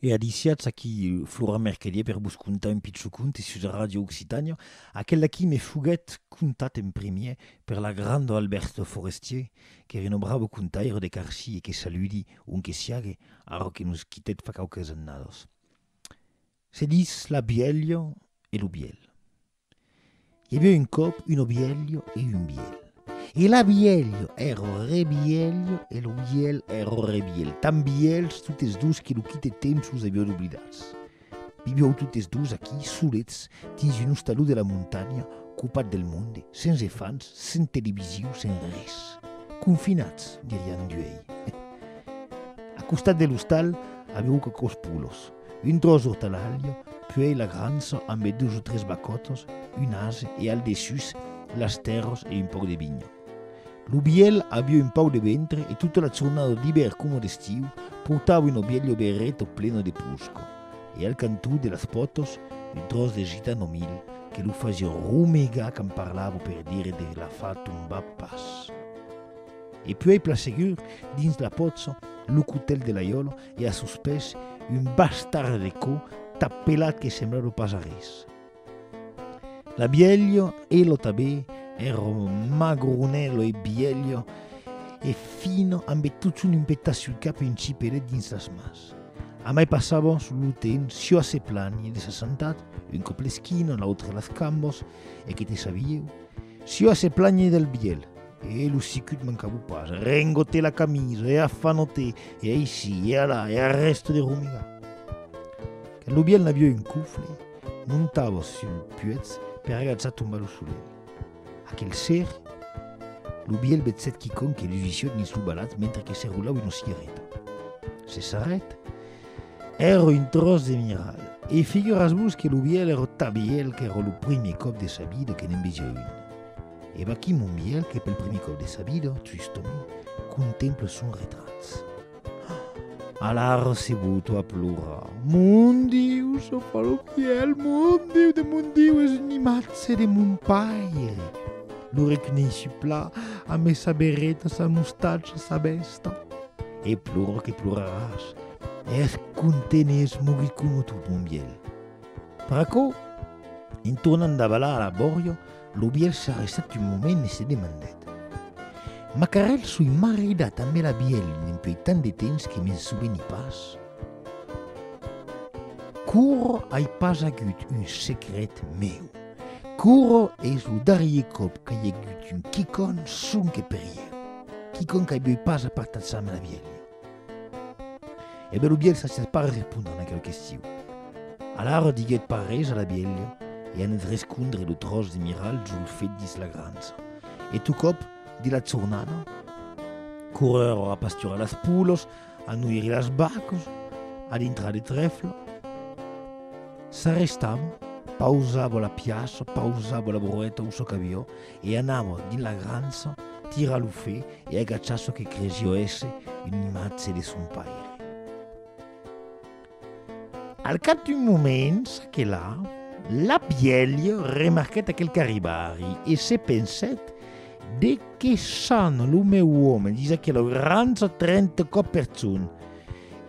E adisiatz aquí Flora Mercadier per vos contar un pichon conte sus Ràdio Occitània, aquel d'aquí me foguèt contat en primièr per l'agrandor Alberto Forestier, qu'ère un brave contaire de Carci e que saludi ont que siague, ara que nos quitèt fa quauques annadas. Se dis la bièlha e lo bièlh. I aviá un còp un obielho e un bielh. E l'abielho èr o rebielho e lo bielh èr o rebielh, tan bielhs totes dos que lo quite temps los aviá doblidats. Vivió totes dos aquí, solets, dins un ostaló de la montanha, copat del monde, sens efants, sens televisiu, sens res. Confinats, dirián d'uei. A costat de l'ostal, aviá quauquòs polos. un dròç d'ortalalha, puèi la grança ambe dus o tres bacòtas, un ase e al dessús las tèrras e un pauc de vinha. Lo vièlh aviá un pauc de ventre e tota la jornada d'ivèr coma d'estiu portava una vièlha oberreta plena de posca e al cantó de las pòtas un dròç de gitano mil que lo fasiá romegar quand parlava per dire de la fa tombar pas. E puèi plan segur, dins la pòtza, lo cotèl de l'aiòla e a sos pès un bas tarre de cò tap pelat que semblava pas arrés. La bielho e lo tabé, ero magronello e bielho e fino amb e totson un petat sul cap e un cipelet dins las mans. Amai passavos lo temps çò a se planhir de s'assentat, un còp l'esquina, l'autre las cambos, e que te sabieu, çò a se planhir del bielh, E lo sicut mancabou pas, rengote la camisa e afanote e aici e alà e arrèste de romigar. Quand lo biel n'avieu un cofle, montava sul puetz per agatzar tombar lo solelh. Aquel ser, lo biel vetzèt quicòm que lusissiot dins lo balat mentre que se rolava una cigareta. Se sarrèt, Èra un tròç de miral. E figuratz-vos que lo biel èra ta biel qu'èra lo primier còp de sa vida que ne'n vesiá un. E vaquí mon vielh que pel primier còp de sa vida, triston, contempla son retrat. Alara se boto a plorar. Mon Diu, son paloquièl, mon Diu de mon Diu, es un imatge de mon paire. Lo reconeishi pla, amé sa berreta, sa mostacha, sa vèsta. E plora que ploraràs. Es content e es mogut coma tot mon vielh. Per aquò, en tornant davalar a la bòria, Lo vièlh s'arrestèt un moment e se demandèt, Macarèl, soi maridat ambe la vièlh dempuèi tant de temps que me'n soveni pas? Curro ai pas agut un secret meu. Curro es lo darrier còp qu'ai agut un quicòn sonque per ieu. Quicòn qu'ai beuit pas apartat-se ambe la vièlha. E bèl lo bielh s'assèt pas respondre aquel questiu. Alara diguèt pas res a la bielha e anèt rescondre lo tròç de miralh julfet dins la grança. E tocòp, de la jornada, corrèron a pasturar las polas, a noiri las vacas, a dintrar de trèfla. S'arrestava, pausava la piaça, pausava la broeta o çò qu'aviá, E anava dins la grança tirar lo fe e agachar çò que cresia èsser una imatge de son paire. Al cap d'un moment, ça que la, la bièlha remarquèt aquel carribari e se pensèt, De qué sana lo meu òme dins aquela grança trenta còp per jorn,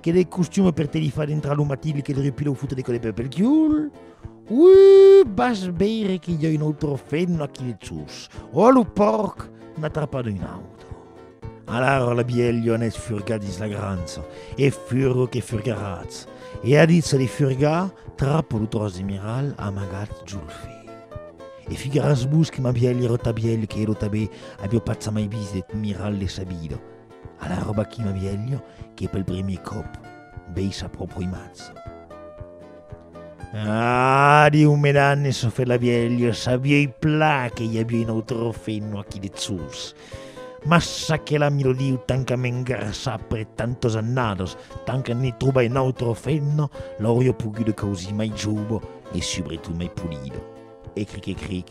que de costum per te li far dintrar lo matilh que li repila o fota de còde pel quiul, Uuh! Vas veire que i a un autre feno aquí dessús. Ò lo pòrc n'a trapat un autre. Alara la bielha anèt furgar dins la grança, e furgo que furgaratz. E a ditz de furgar, trapo lo tròç de miral amagat jo lo fè. E figaratz-vos que ma bielha rota bielha que ero tabé avió patz amai vist deth miral de sa vida. Alara vaquí ma bielha que pel primier còp vei sa pròpra imatge. Ah, diu Medan e se fait la vièlha, sabiei pla que i aviei un autre feno aquí dessús. Mas aquela mi lo diu tant qu'à m'engrassar après tantas annadas, tant que n'i trobai un autre feno, l'auria poguda causir mai jove e subretot mai polida. E cric e cric,